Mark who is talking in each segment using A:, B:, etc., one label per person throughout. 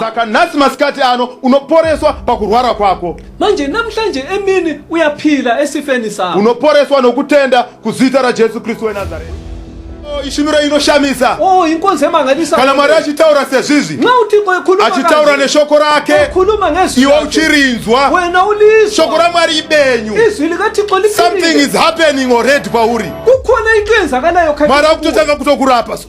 A: saka nhasi masikati ano unoporeswa pakurwara kwako manje namhlanje
B: emini uyaphila esifeni sakho unoporeswa nokutenda
A: kuzita rajesu kristu wenazareta oh, ishumiro inoshamisa oh, inkonzi emangalisa
B: kana mwari achitaura
A: sezvizvi nxa uthixo ekhuluma
B: achitaura neshoko
A: rake ekhuluma ngezwi iwe
B: uchirinzwa
A: wena ulizwa
B: shoko ramwari ibenyu
A: izwi likathixo liphilile
B: something is happening
A: already kwauri kukhona into
B: eyenzakalayo mwari akutotanga kutokurapa
A: so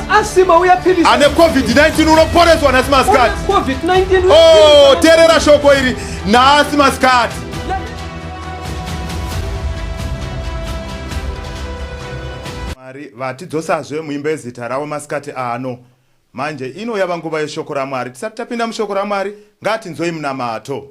A: asima
B: uya pilisi ane
A: covid-19 unoporeswa nhasi masikati covid-19 oh
B: terera shoko
A: iri nhasi masikati mwari vatidzosazve muimba yezita ravo masikati ano manje ino yava nguva yeshoko ramwari tisati tapinda mushoko ramwari ngatinzwei munamato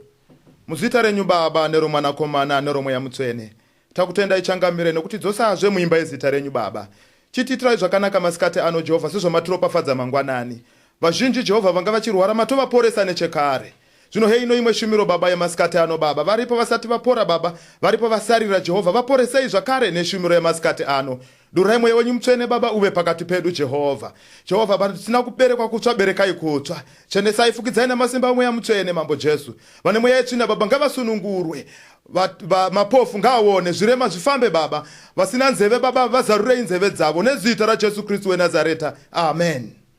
A: muzita renyu baba neromwanakomana neromweya mutswene Takutendai changamire nokutidzosazve muimba yezita renyu Baba. Chitiitirai zvakanaka masikati ano Jehovha sezvamatropafadza mangwanani. Vazhinji Jehovha vanga vachirwara matovaporesa nechekare. Zvino heino imwe shumiro Baba yemasikati ano Baba. Varipo vasati vapora Baba, varipo vasarira Jehovha vaporesei zvakare neshumiro yemasikati ano. Durai mweya wenyu mutsvene Baba uve pakati pedu Jehovha. Jehovha vanhu tisina kuberekwa kutsva berekai kutsva. Chenesai fukidzai namasimba omweya mutsvene Mambo Jesu. Vane mweya yetsvina Baba ngavasunungurwe. Va, va, mapofu ngaaone zvirema zvifambe Baba. Vasina nzeve Baba vazarurei nzeve dzavo nezita raJesu Kristu weNazareta. Amen.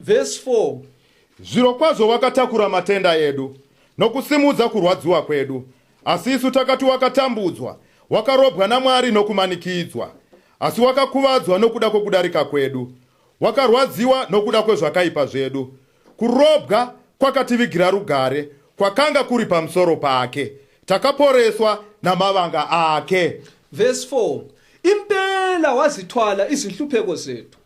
B: Verse 4. Zvirokwazvo
A: wakatakura matenda edu nokusimudza kurwadziwa kwedu, asi isu takati wakatambudzwa, wakarobwa naMwari nokumanikidzwa, asi wakakuvadzwa nokuda kwokudarika kwedu, wakarwadziwa nokuda kwezvakaipa zvedu. Kurobwa kwakativigira rugare kwakanga kuri pamusoro pake, takaporeswa namavanga ake. Verse 4.
B: Impela wazithwala izinhlupheko zethu.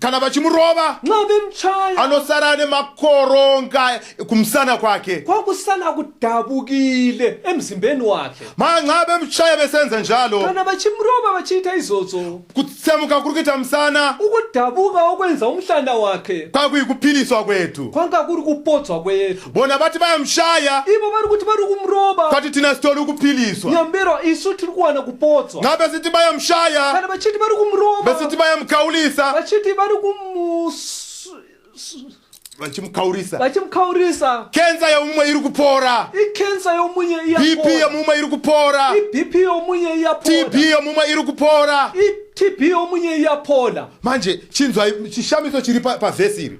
B: kana vachimurova anosara ane
A: makoronga kumusana kwake kwakusala
B: kudabukile emzimbeni wakhe manxa bemshaya
A: besenza njalo kana vachimurova
B: vachiita izvozvo kutsemuka kuri
A: kuita musana ukudabuka
B: okwenza umhlanda wakhe kwakuyikuphiliswa
A: kwethu kwanga kuri kupodzwa
B: kwethu bona vati vayamushaya
A: ivo vari kuti vari
B: kumuroba kwati tina sitori
A: kuphiliswa nyambero isu tiri
B: kuwana kupotswa nga besiti vayamushaya
A: kana vachiti vari kumuroba
B: besiti vayamukaulisa
A: vachiti vari vachimukaurisa vachimukaurisa
B: kensa yomumwe
A: iri kupora ikensa yomunye
B: bp yomumwe iri
A: kupora ibp yomunye
B: iyapora tb yomumwe iri
A: kupora itb yomunye
B: iyapora manje chinzwai
A: chishamiso chiri pavhesi iri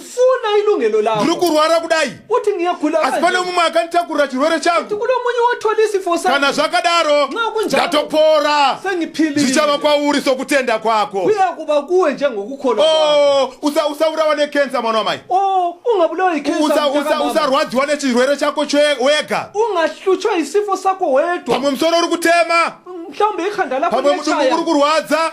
A: funa
B: ilungelo lakho ndiri kurwara kudai uthi
A: ngiyagula asi
B: pane mumwe akanditakurira
A: chirwere
B: changu
A: kulo munye wothola isifo
B: sakho kana zvakadaro
A: ndatopora zvichava
B: kwauri
A: sokutenda kwako kuyakuba kuwe
B: njengokukholwa oh usa usaurawa
A: nekensa mwana wamai oh ungabulawa
B: ikensa usa usarwadziwa nechirwere
A: chako wega ungahlutshwa
B: isifo sakho wedwa pamwe musoro uri kutema
A: mhlawumbe ikhanda
B: lakho pamwe mudumbu uri kurwadza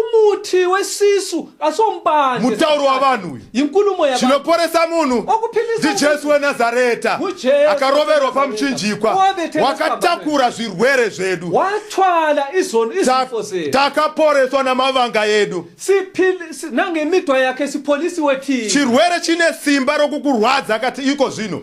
B: umuthi wesisu kasompande mutauro wavanhu
A: uyu inkulumo yabantu
B: chinoporesa munhu
A: ndijesu
B: wenazareta
A: akaroverwa
B: pamuchinjikwa
A: wakatakura zvirwere zvedu wathwala
B: izoni izifo zedu takaporeswa
A: namavanga edu
B: nangemitwa yake sipolisi wethina chirwere chine simba
A: rokukurwadza kati iko zvino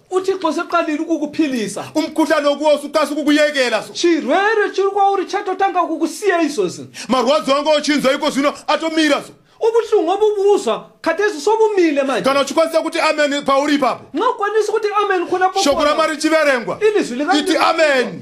A: uthixo seqalile
B: ukukuphilisa umkhuhlane okuwo
A: sukasi ukukuyekela so chirwere chiri kwauri
B: chatotanga
A: ukukusiya izvozvi marwadzo
B: anga
A: ochinzwa iko
B: zvino atomira
A: so
B: ubuhlungu obubuzwa khathesi sobumile manje kana uchikwanisa kuti amen
A: pauri ipapo nxa ukwanisa ukuthi
B: amen khona shoko ramari chiverengwa
A: ilizwi iti
B: amen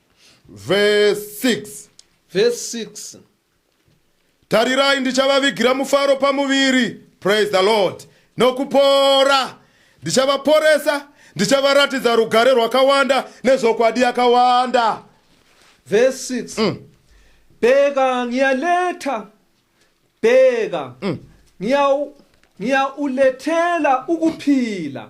A: Verse 6.
B: Verse 6.
A: Tarirai ndichavavigira mufaro pamuviri. Praise the Lord. Nokupora ndichavaporesa ndichavaratidza rugare rwakawanda nezvokwadi yakawanda
B: verse 6 mm. bheka ngiyaletha bheka mm. ngiyawulethela ukuphila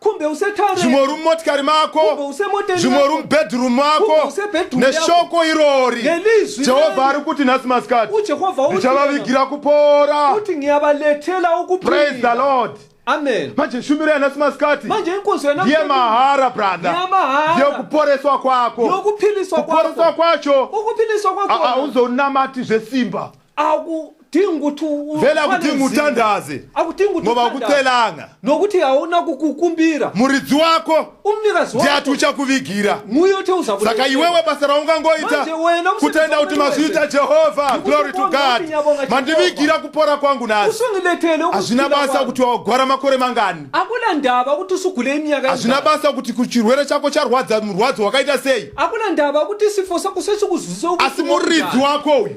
A: kumbe usetaure
B: zvimwe uri mumotikari
A: mako Kumbe usemoteni zvimwe
B: uri yako. mubedroom
A: mwako Kumbe usebedroom yako. neshoko irori Ngelizwi jehovha irori. ari kuti nhasi masikati uJehova uthi ndichavavigira kupora uthi ngiyabalethela
B: praise the ukuphila lord
A: amen manje
B: shumiro yanhasi
A: masikati manje inkonzo yena ndiye
B: mahara
A: brother Ndeyamahara. ndiye kuporeswa kwako yokuphiliswa kuporeswa
B: kwakho kwacho
A: ukuphiliswa a- kwakho
B: awuzonamati
A: zvesimba akudingi
B: kuti vele akudingi
A: utandaze ngoba
B: akucelanga
A: nokuti hauna
B: kukukumbira muridzi wako
A: umnikazi wako ndiati
B: uchakuvigira saka iwewe basa
A: raungangoita kutenda
B: kuti mazviita
A: jehovha glory to god mandivigira kupora kwangu nhasi hazvina
B: basa kuti
A: wagwara makore mangani akuna ndava kuti
B: usugule imyaka hazvina basa kuti
A: kuchirwere chako charwadza murwadzo wakaita sei akuna ndava kuti
B: sifo sako sechikuzwisa asi muridzi
A: wako uyu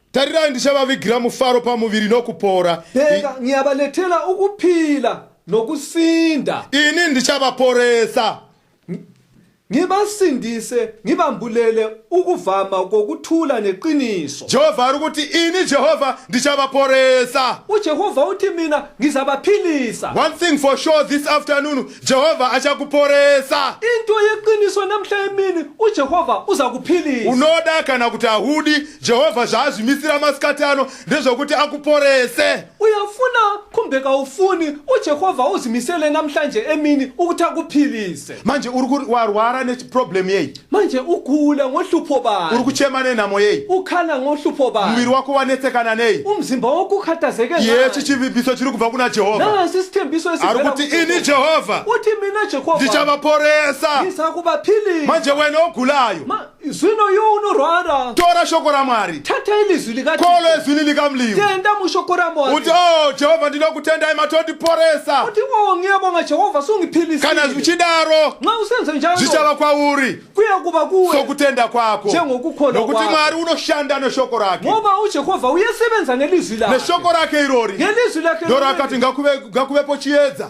B: Tarirai,
A: ndichavavigira mufaro pamuviri nokupora. Bheka, ngiyabalethela
B: ukuphila nokusinda. Ini
A: ndichavaporesa. Ngibasindise,
B: ngibambulele ukuvama kokuthula neqiniso. Jehova ari kuti,
A: Ini Jehova ndichavaporesa. UJehova uthi
B: mina ngizabaphilisa. One thing for
A: sure this afternoon, Jehova achakuporesa. Into yeqiniso
B: namhla emini uJehova uzakuphilisa. Unoda kana kuti
A: ahudi, Jehovha zvaazvimisira masikati ano ndezvokuti akuporese. Uyafuna
B: kumbe kaufuni, uJehovha
A: uzvimisele
B: namhlanje emini ukuthi akuphilise. Manje
A: uri kuri
B: warwara
A: nechiproblem yei? Manje ugula
B: ngohlupho bani? Uri kuchema nenhamo yei?
A: Ukhala ngohlupho
B: bani? Muviri wako wanetsekana
A: nei? Umzimba wako ukhathazeke
B: ngani? Yechi chivimbiso
A: chiri kubva kuna Jehovha. Nasi isithembiso Ari esivela
B: kuti kuJehova. ini
A: Jehovha Uthi mina Jehova
B: ndichavaporesa.
A: ngizakubaphilisa.
B: Manje wena
A: ogulayo. Ma- zvino iwe
B: unorwara tora shoko ramwari
A: tata ilizwi likati
B: kolo ezwini likamlimu
A: tenda mushoko ramwari
B: uti o jehovha
A: ndinoda kutendai matondiporesa uti o ngiyabonga
B: jehovha sungiphilisile kana zvichidaro
A: nxa usenze njalo
B: zvichava kwauri
A: kuya kuba kuwe
B: sokutenda kwako
A: Njengokukholwa nokuti kwakho.
B: mwari unoshanda neshoko
A: rake ngoba ujehova
B: uyesebenza ngelizwi lakhe neshoko rake irori
A: ngelizwi lakhe ndoro
B: akati ngakuve-
A: ngakuvepo chiedza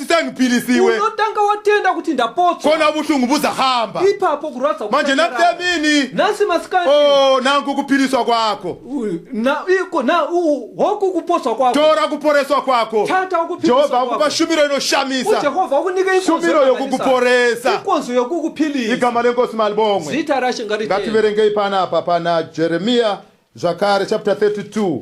A: Sani pilisi iwe. Unotanga watenda
B: kuti ndapotswa. Kona buhlungu buzahamba.
A: Ipapo kurwadza kuchapera.
B: Manje nakutemini.
A: Nasi masikati.
B: Oh, nangu kupiliswa
A: kwako. Na iko na u
B: hoku kupotswa kwako. Tora kuporeswa kwako.
A: Tata ukupiliswa kwako. Jehova
B: akupa shumiro
A: inoshamisa. Jehova akunike ikonzo.
B: Shumiro yokukuporesa.
A: Ikonzo yokukupilisa.
B: Igama lenkosi
A: malibongwe. Zita rashe ngaritende.
B: Ngativerengei
A: panapa pana Jeremia zvakare chapter 32.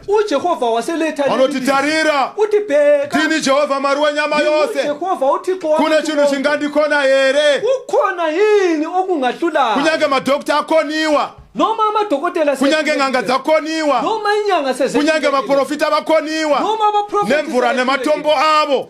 A: ujehovha waseleta
B: anoti tarira
A: uti bheka ndini
B: jehovha mwari
A: wenyama yose jehovha uthixo
B: kune chinhu chingandikona
A: here ukhona yini okungahlulayo
B: kunyange
A: madokta
B: akoniwa noma amadokotela kunyange n'anga
A: dzakoniwa noma inyanga
B: kunyange vaprofita
A: vakoniwa nemvura
B: nematombo
A: avo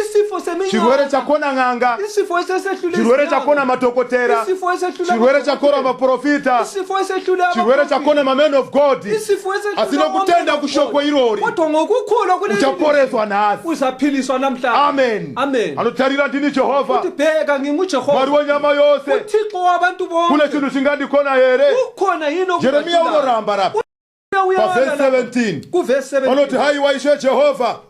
A: isifo seminyoka
B: chirwere chakona n'anga
A: isifo esesehlula
B: chirwere chakona
A: madhokotera isifo esehlula chirwere
B: chakona
A: maprofita isifo esehlula
B: chirwere chakona maman
A: of god isifo esehlula asi
B: nokutenda kushoko
A: irori kodwa ngokukholwa
B: kule uchaporeswa nhasi
A: uzaphiliswa namhlanje
B: amen amen
A: anotarira
B: ndini jehova
A: uthi bheka
B: ngingujehova mwari wenyama yose
A: uthixo wabantu
B: bonke kune chinhu chingandikona
A: here ukhona yini
B: jeremiya unoramba
A: lapha pavhesi 17 vanoti
B: haiwa ishe
A: jehovha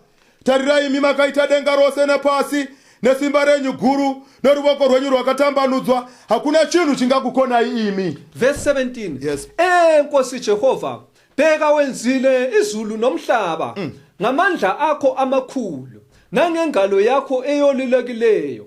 A: tarirai imi makaita denga rose nepasi nesimba renyu guru neruvoko rwenyu rwakatambanudzwa hakuna chinhu chingakukonai imi vhesi
B: 17 yes. e nkosi
A: jehovha
B: bheka wenzile izulu nomhlaba mm. ngamandla akho amakhulu nangengalo yakho eyolilekileyo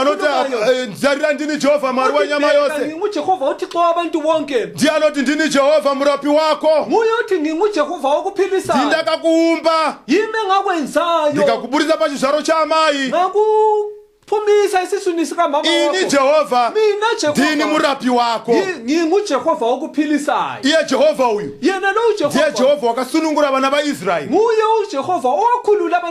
B: anoti eh,
A: nzarira ndini jehovha mwari wenyama
B: yose ndiye anoti ndini
A: jehovha murapi wako
B: ndindakakuumba ndikakuburitsa pachizvaro
A: chaamai
B: phumisa esiswini sikamama ini jehova
A: mina jehova ndini
B: murapi
A: wako ngingujehova
B: okuphilisayo iye jehova uyu
A: yena lo ujehova ndiye
B: jehova
A: wakasunungura vana vaisraeli nguye ujehova
B: owakhulula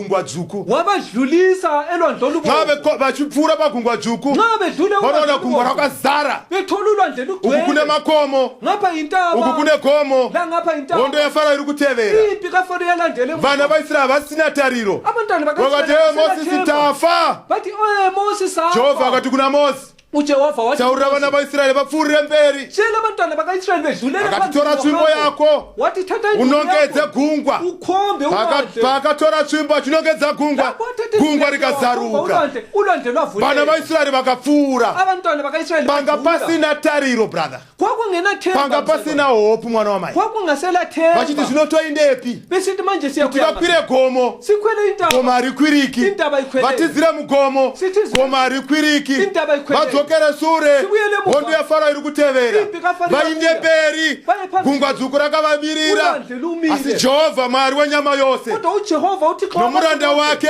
A: gungwa dzvuku wavadlulisa
B: elwandle olubomvu vachipfuura pagungwa
A: dzvuku nxa vedlule vanoona
B: gungwa
A: rakazara bethola ulwandle
B: lugcwele uku kune makomo
A: ngapha intaba uku
B: kune gomo
A: la ngapha intaba hondo
B: yafarayo iri kutevera
A: impi kafaro yalandele
B: vana vaisrael havasina
A: tariro abantwana vakati
B: mosisi
A: tafa vati oye
B: mosisi jehova akati kuna mosi
A: ujehovha wacho taurira
B: vana vaisraeri
A: vapfuurire mberi chela vantana vakaisraeri
B: vezhulera akatitora tsvimbo
A: yako wati tata inzwi
B: unongedze yako. gungwa
A: ukombe Paaka-
B: ulande paakatora
A: tsvimbo achinongedza gungwa Lapho athathe gungwa izwi lako, rikazaruka ulande ulande vana
B: lwavuleka vaisraeri
A: vakapfuura abantwana bakaisraeri
B: panga bavhula. pasina
A: tariro brother panga
B: pasina hope
A: mwana wamai
B: vachiti zvino toindepi
A: kuti
B: vakwire gomo
A: gomo
B: harikwiriki
A: vatizire
B: mugomo
A: gomo harikwiriki vadzokere
B: sure
A: hondo yafaro
B: iri kutevera
A: vainde
B: mberi
A: gungwa dzuku
B: rakavamirira
A: asi
B: jehovha mwari
A: wenyama yose nomuranda
B: wake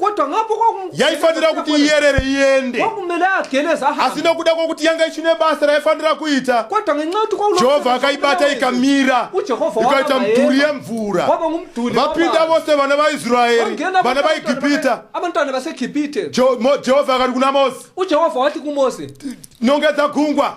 A: kodwa ngapo
B: yaifanira kuti
A: iyerere iende kwakumele ageleza
B: ahambe asi nokuda kwokuti yanga ichine
A: basa raifanira kuita kodwa ngenxa yokuti kwakulo
B: jehovha akaibata
A: ikamira ujehova ikaita
B: mudhuri
A: yemvura waba ngumdhuri vapinda
B: vose vana
A: vaisraeri vana vaegipita abantwana baseegipite
B: jehova akati
A: kuna mosi ujehova wati kumosi
B: nongedza
A: gungwa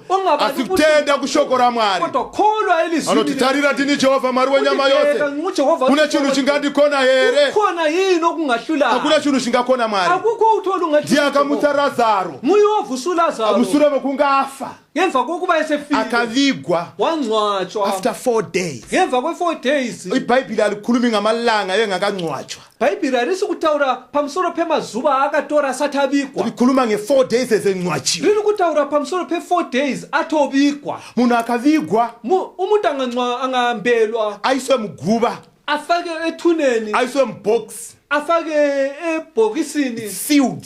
A: asi kutenda kushoko ramwari anoti
B: tarira ndini jehovha
A: mwari wenyama yose kune chinhu chingandikona here
B: hakuna chinhu chingakona
A: mwari ndiye
B: akamutsa razaro
A: mushure
B: mekunge afa
A: ngemva kwokuba
B: esefile akavigwa
A: wangcwatshwa
B: after four days
A: ngemva kwe-four days
B: ibhayibhile alikhulumi
A: ngamalanga yengakangcwatshwa Bhaibheri harisi
B: kutaura pamusoro pemazuva aakatora asati avigwa. Rikhuluma nge 4
A: days ezencwatshiwa. Riri kutaura pamusoro
B: pe 4 days atovigwa. Munhu akavigwa.
A: Mu, umuntu angancwa
B: angahambelwa. Aiswe muguva.
A: Afake
B: ethuneni. Aiswe mubox.
A: Afake
B: ebhokisini. Sealed.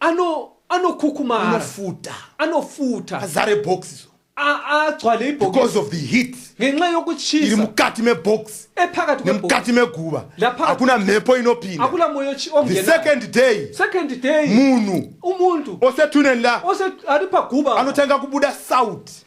A: ano anokukumara
B: anofuta anofuta azare box
A: so agcwale
B: ibhokibeause of the heat
A: ngenxa yokuchisa
B: iri mukati mebox
A: ephakathi nemukati
B: meguva
A: hakuna mhepo inopinda hakuna moyo the
B: second
A: day second day munhu umuntu
B: osethuneni la
A: ari paguva
B: anotanga kubuda
A: sauti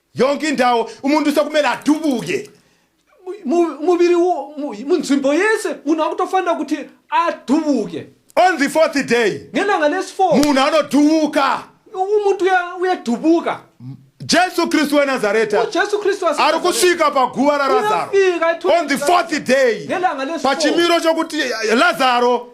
B: yonke indawo
A: umuntu usekumele adubuke
B: muviri munzvimbo yese munhu akutofanira kuti adubuke on the fourth
A: day ngelanga lesifour
B: munhu anodubuka
A: umuntu
B: uyadubuka jesu
A: kristu wenazareta ari kusvika paguva rarazaro on the fourth day pachimiro chokuti lazaro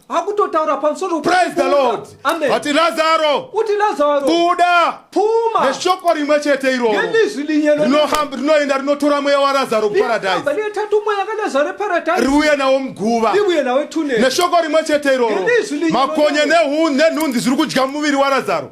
A: akutotaura
B: pamusoro praise the lord
A: ati lazaro kuti lazaro buda puma
B: neshoko rimwe chete
A: iroro
B: rinohamba rinoenda
A: rinotora mweya warazaro kuparadise retatu mweya
B: kalazaro eparadise riuye nawo muguva
A: riuye nawo etune
B: neshoko rimwe chete
A: iroro makonye nenhunzi zviri kudya muviri warazaro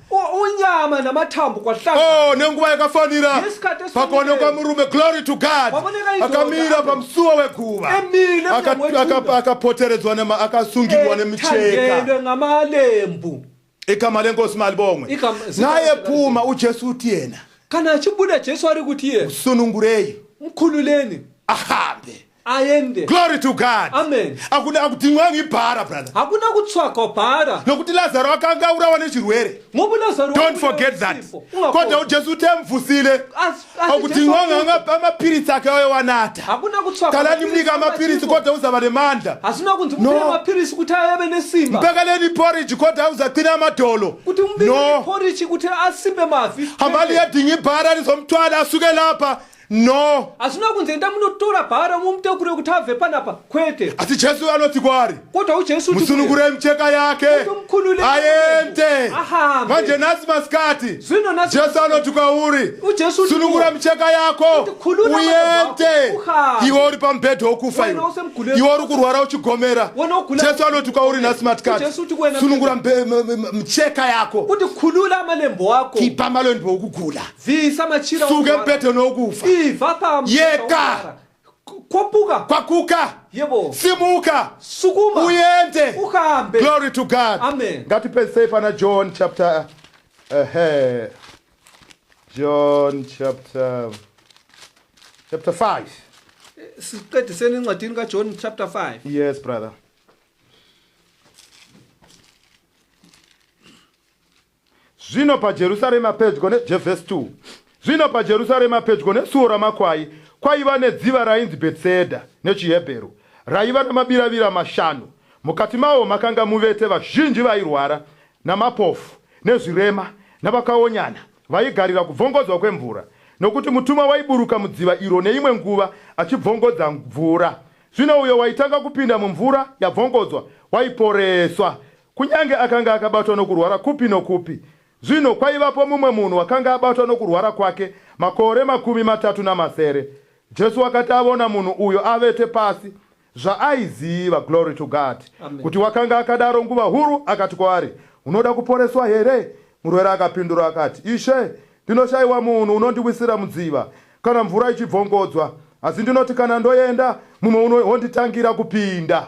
A: U- unyama
B: namatambo kwahlanga oh nenguva yakafanira
A: Ngesikhathi esifanele. pakaonekwa murume glory to god Paboneka indoda. akamira pamusuwa weguva Emile Aka- emnyango weguva. aka- akapoteredzwa nema akasungirwa nemicheka ethandelwe ngamalembu
B: igama
A: lenkosi malibongwe Igama- zita naye lenkosi phuma ujesu uthi yena kana achibuda
B: jesu ari kuti iye sunungurei
A: mkhululeni
B: ahambe
A: aende glory
B: to god
A: amen akuda
B: akutimwa
A: ngibhara brother hakuna kutsvaka
B: bhara nokuti lazaro akanga
A: aurawa nechirwere ngoku lazaro don't
B: forget that
A: kodwa ujesu uti amufusile akutimwa nganga pamapiritsi ake ayo wanata hakuna kutsvaka kana
B: ndimunika amapiritsi
A: kodwa uzava nemandla hazina kunzi no.
B: mapiritsi kuti ayave nesimba mbekeleni porridge
A: kodwa uzaqina amadolo kuti mubikeni no.
B: porridge kuti asimbe mavi hamali yadhingi
A: bhara rizomutwala asuke lapha no hazvina kunzi enda
B: munotora bhara mumutekure kuti abve panapa kwete asi jesu anoti
A: kwaari kodwa ujesu musunungure
B: micheka yake
A: aende manje nhasi masikati jesu anoti kwauri sunungura
B: micheka
A: yako uende iwe uri pamubhedha wokufa iwe iwe uri kurwara uchigomera jesu anoti kwauri nhasi matikati sunungura micheka yako kuti khulula
B: amalembo ako kipa amalembo okugula
A: bvisa machira
B: suke mpeto nokufa
A: ibva payeka kwapuka kwakuka yebo
B: simuka
A: sukuma uyende ukambe glory to
B: god
A: amen ngatipedzisei
B: pana
A: john chapter ehe john chapter chapter 5
B: siqediseni encwadini kajohn chapter 5 yes brother
A: Zvino paJerusarema pedyo ne je verse 2 Zvino paJerusarema pedyo nesuo ramakwai kwaiva nedziva rainzi Bhetsedha, nechiHebheru, raiva namabiravira mashanu, mukati mawo makanga muvete vazhinji vairwara, namapofu, nezvirema, navakaonyana, vaigarira kubvongodzwa kwemvura, nokuti mutumwa waiburuka mudziva iro neimwe nguva achibvongodza mvura. Zvino uyo waitanga kupinda mumvura yabvongodzwa waiporeswa, Kunyange akanga akabatwa nokurwara kupi nokupi, zvino kwaivapo mumwe munhu wakanga abatwa nokurwara kwake makore makumi matatu namasere. Jesu wakati avona munhu uyo avete pasi, zvaaiziva, glory to God, kuti wakanga akadaro nguva huru, akati kwaari, Unoda kuporeswa here? Murwere akapindura akati, Ishe, ndinoshaiwa munhu unondiwisira mudziva kana mvura ichibvongodzwa, asi ndinoti kana ndoenda, mumwe uno onditangira kupinda.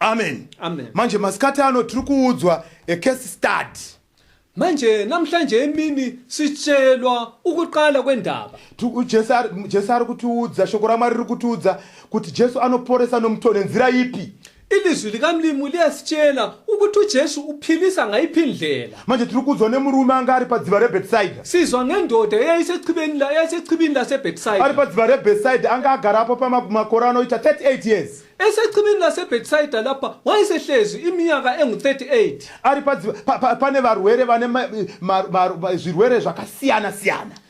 A: amen amen manje
B: masikati ano
A: tiri kuudzwa a case study manje
B: namhlanje emini sitshelwa ukuqala kwendaba jesu
A: jesu ari kutiudza shoko ramwari riri kutiudza kuti jesu anoporesa nomuto nenzira ipi ilizwi likamlimu
B: liyasitshela ukuthi ujesu uphilisa ngayiphi indlela Manje tiri kuudzwa nemurume
A: anga ari padziva reBethsaida. Sizwa ngendoda
B: yaisechibini la yaisechibini laseBethsaida. Ari padziva reBethsaida
A: anga agara apo pamakore anoita 38 years. Esechibini
B: laseBethsaida lapha wayesehlezi iminyaka engu-38. Ari padziva pa,
A: pa, pane varwere vane ma, ma, ma, ma, zvirwere zvakasiyana siyana.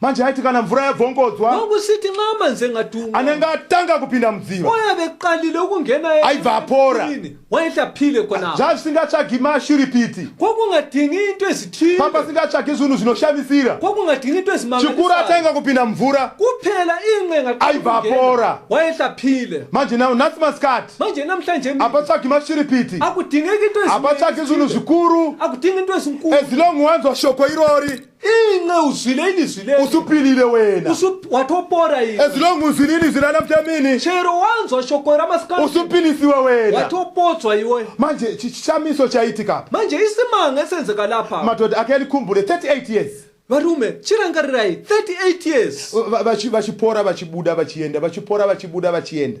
B: manje aiti
A: kana mvura yabvongodzwa kwakusiti mama
B: nzengatumwa anenge atanga kupinda
A: mudziva oya beqalile ukungena
B: aibva apora
A: waitaphile
B: khonaa zvavisingatsvagi
A: mashiripiti kwakungadingi
B: into ezithile pamba singatsvagi zvinhu
A: zvinoshamisira kwakungadingi into
B: ezimangchikuru atanga
A: kupinda
B: mvura
A: kuphela inqenga
B: aibva apora
A: waitaphile
B: manje nawo nhasi
A: masikati manje namhlanje
B: apatsvagi mashiripiti
A: akudingeki into
B: apatsvagi zvinhu zvikuru
A: akudingi into ezinkulu
B: ezilong wanzwa shoko
A: irori inxe uzwile
B: ini zwile usupilile wena Usu-
A: watopora ini
B: as long uzwile ini zwila
A: namhla mini chero wanzwa
B: shoko ramasikati usupilisiwe wena
A: watopodzwa iwe
B: manje chi- chishamiso
A: chaitika apa manje isimanga
B: esenzeka lapha madhodha ake alikhumbule
A: 38 years varume
B: chirangarirai 38 years Va- vachi- vachipora
A: vachibuda vachienda vachipora vachibuda vachienda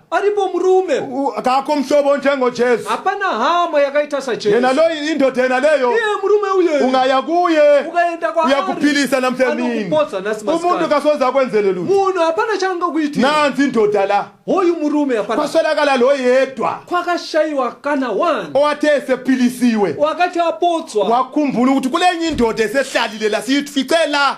A: aripo murume
B: U- kako mhlobo
A: njengojesu hapana hama
B: yakaita sajesu yena loyi indoda yena
A: leyo iye murume uye
B: ungaya kuye
A: ukaenda kwaari
B: uyakuphilisa namsemini
A: anokupodza nhasi umuntu
B: masikati kasoze akwenzele lutho
A: munhu hapana chaangakuitira
B: nanzi indoda la
A: hoyu murume hapana
B: kwaswelakala lo yedwa
A: kwakashayiwa
B: kana one owathe esephilisiwe
A: wakati apotswa
B: wakhumbula ukuthi kulenye
A: indoda esehlalile la siyifice la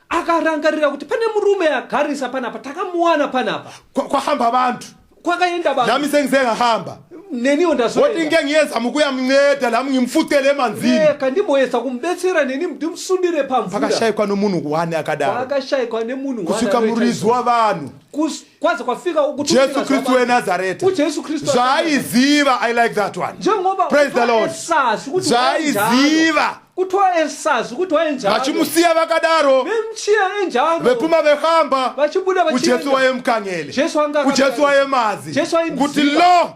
A: akarangarira
B: kuti pane murume agarisa panapa takamuwana panapa Kwa- kwahamba vantu
A: kwakaenda vanhu nami
B: sengizengahamba
A: neniwo woti
B: ndazoenda ngengiyeza
A: mukuya mnceda lami ngimfucele emanzini reka ndimboyedza
B: kumubetsera neni ndimsundire pamvura pakashayikwa nomunhu wani
A: akadaro pakashayikwa nemunhu
B: kusvika wani murizi
A: wavanhu Kus- kwaze
B: kwafika jesu kristu wenazareta zvaaiziva i
A: like that one praise the
B: lord
A: zvaaiziva
B: kutwa esazi kuti waenjalo vachimusiya vakadaro
A: vemchiya enjalo
B: vepuma vehamba
A: vachibuda vachienda ujesu
B: waye mkangele
A: jesu anga ujesu
B: waye mazi
A: jesu waye kuti lo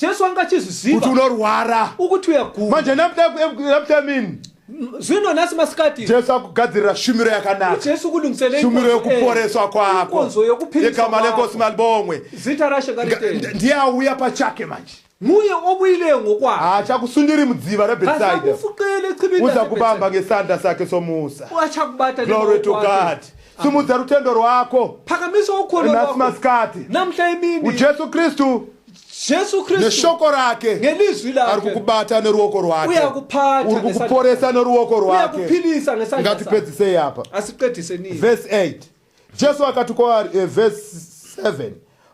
B: jesu anga achizviziva kuti unorwara
A: ukuti uyaguma manje
B: naptamin
A: zvino
B: nhasi masikati jesu akugadzirira
A: shumiro yakanakajesu kulungiseleshumiro
B: yokuporeswa
A: kwako yegama
B: lenkosi malibongwe
A: zita rashe
B: ndiye auya pachake
A: manje muye obuyile
B: ngokwakhe haachakhusuniri mudziva
A: rebetsaida
B: uza kubamba ngesandla
A: sakhe somusa uachakubata glory
B: to god
A: simudza rutendo rwako phakamisa ukholo nhasi
B: lwakho masikati
A: namhla
B: emini
A: ujesu
B: kristu
A: jesu kristu
B: neshoko rake
A: ngelizwi ari lakhe
B: kukubata neruoko
A: rwake Uyakuphatha uri ngesandla
B: kukuporesa neruoko
A: rwake uyakuphilisa ngesandla sakhe
B: ngatipedzisei apa
A: asiqedise nini
B: verse 8
A: jesu akati kwaari eh, verse 7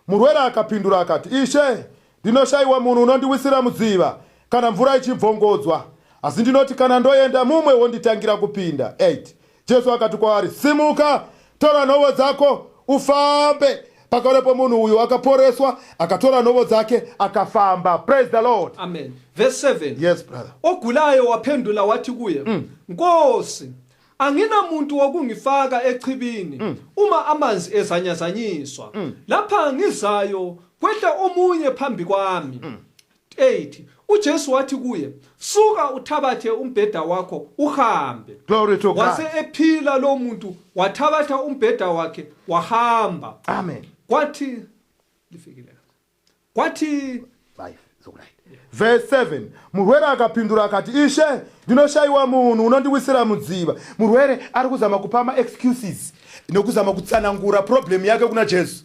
A: murwere akapindura akati ishe ndinoshayiwa munhu unondiwisira mudziva kana mvura ichibvongodzwa asi ndinoti kana ndoenda mumwe wonditangira kupinda 8 Jesu akati kwaari, Simuka, tora nhovo dzako, ufambe. Pakarepo munhu uyu akaporeswa, akatora nhovo dzake, akafamba. Praise the Lord. Amen. Verse 7.
B: Yes, brother. Ogulayo waphendula wathi kuye, Nkosi, anginamuntu wokungifaka echibini uma amanzi ezanyazanyiswa. Lapha ngizayo kwehla omunye phambi kwami. 8 uJesu wathi kuye, Suka uthabathe umbheda wakho uhambe. Glory to God. Wase
A: ephila lo
B: muntu wathabatha umbheda wakhe wahamba. Amen. Kwathi lifikile. Kwathi 5
A: zokulayita. Verse 7 murwere akapindura akati ishe ndinoshayiwa munhu unondiwisira mudziva murwere ari kuzama kupa maexcuses nokuzama kutsanangura problem yake kuna jesu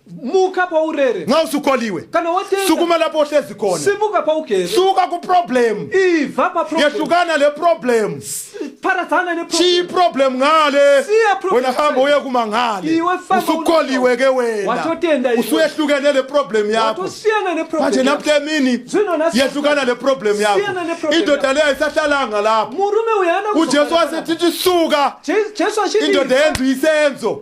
A: muka paurere
B: nxa usukoliwe kana
A: watenga sukuma
B: lapho ohlezi khona
A: simuka pawugere suka
B: kuproblem
A: iva paproblem
B: yehlukana le problem
A: paradzana
B: ne chiyi problem ngale
A: Siya problem wena hamba ngale. uye kuma ngale Iwe famba usukoliwe ke wena Watotenda iwe. usuyehlukene
B: le problem
A: yakho watosiyana ne problem manje
B: yakho. namhla emini
A: Zwino nasi- yehlukana le problem Siyana yakho ne-problem indoda yakho. leyo ayisahlalanga lapho murume uyu haana
B: ujesu kuzogara wasethi lapha.
A: suka Je- jesu achiti
B: indoda yenza isenzo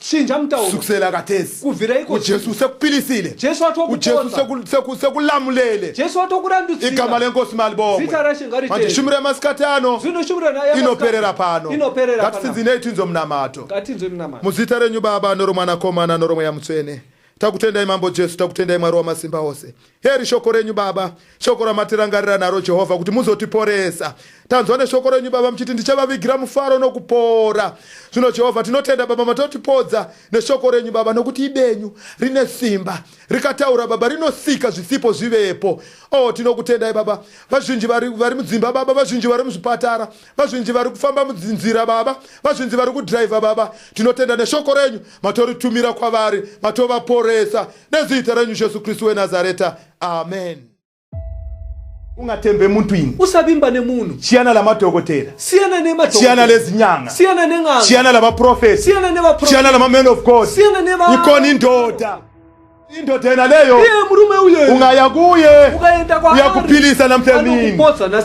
A: Chinja mutauro. Sukusela
B: katesi.
A: Kuvira iko. Ujesu
B: usekupilisile.
A: Jesu watokuponza. Ujesu
B: seku, seku,
A: sekulamulele. Jesu watokurandutsira.
B: Igama lenkosi malibongwe.
A: Zita rashe ngari Manje shumira
B: masikati
A: ano. Zvino shumira na yama.
B: Inoperera pano.
A: Inoperera pano. Ngati sinzi nei
B: tinzo
A: mnamato. Ngati tinzo mnamato. Muzita
B: renyu baba
A: noromwana komana noromweya mutsvene. Takutendai Mambo Jesu, takutendai Mwari wamasimba ose. Heri shoko renyu Baba, shoko ramatirangarira naro Jehovha kuti muzotiporesa. Tanzwa neshoko renyu Baba muchiti ndichavavigira mufaro nokupora. Zvino Jehovha tinotenda Baba matotipodza neshoko renyu Baba nokuti ibenyu rine simba. Rikataura Baba rinosika zvisipo zvivepo. Oh tinokutendai Baba. Vazhinji vari, vari mudzimba Baba, vazhinji vari muzvipatara. Vazhinji vari kufamba mudzinzira baba, vazhinji vari kudriver baba. Tinotenda neshoko renyu matoritumira kwavari, matovaporesa nezita renyu Jesu Kristu weNazareta. Amen. ungatembe muntu ini usavimba nemunhu
B: chiyana lamadhokotera
A: siyana nemachiyana
B: lezinyanga
A: siyana nen'anga chiyana
B: lamaprofesi
A: siyana nevaprofesi chiyana
B: lamaman of god
A: siyana nevaikoni
B: ndoda
A: Indoda yena leyo. Iye murume uye. Ungaya
B: kuye.
A: Ukaenda kwa.
B: Uyakuphilisa
A: namhlamini.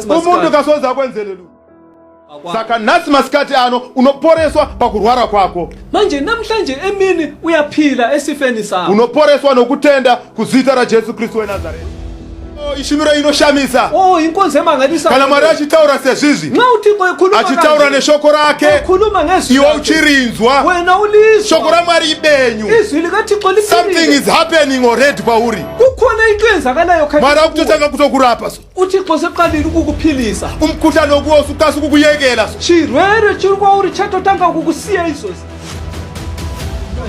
A: Umuntu kasoza akwenzelele. Saka nhasi masikati ano unoporeswa pakurwara kwako. Manje namhlanje
B: emini uyaphila
A: esifeni sakho. Unoporeswa nokutenda
B: kuzita
A: raJesu Kristu weNazareth. Oh, ishumiro inoshamisa oh, kana
B: mwari achitaura
A: sezvizvi
B: achitaura neshoko rake
A: iwe
B: uchirinzwa
A: shoko
B: ramwari ibenyu
A: something
B: is
A: happening
B: already
A: kwauri
B: mwari akutotanga
A: kutokurapa so uthixo seqalile
B: ukukuphilisa umkhuhlane wokuwosa
A: ukasi ukukuyekela so chirwere chiri kwauri
B: chatotanga ukukusiya izozi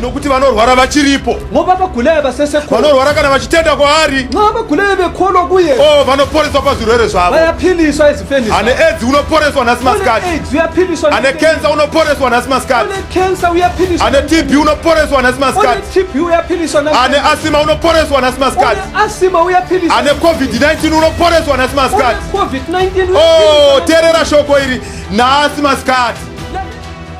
A: nokuti vanorwara vachiripo ngoba abagulayo
B: basesekhona vanorwara kana vachitenda
A: kwaari nxa abagulayo bekholo
B: kuye o oh, vanoporeswa pazvirwere
A: zvavo bayaphiliswa ezifeni
B: ane aids unoporeswa
A: nhasi masikati aids uyaphiliswa ane
B: cancer unoporeswa
A: nhasi masikati ane cancer uyaphiliswa
B: ane tb unoporeswa
A: nhasi masikati tb uyaphiliswa
B: nhasi ane asima
A: unoporeswa nhasi masikati asima uyaphiliswa
B: ane covid 19
A: unoporeswa nhasi masikati covid 19 o oh, terera
B: shoko
A: iri nhasi masikati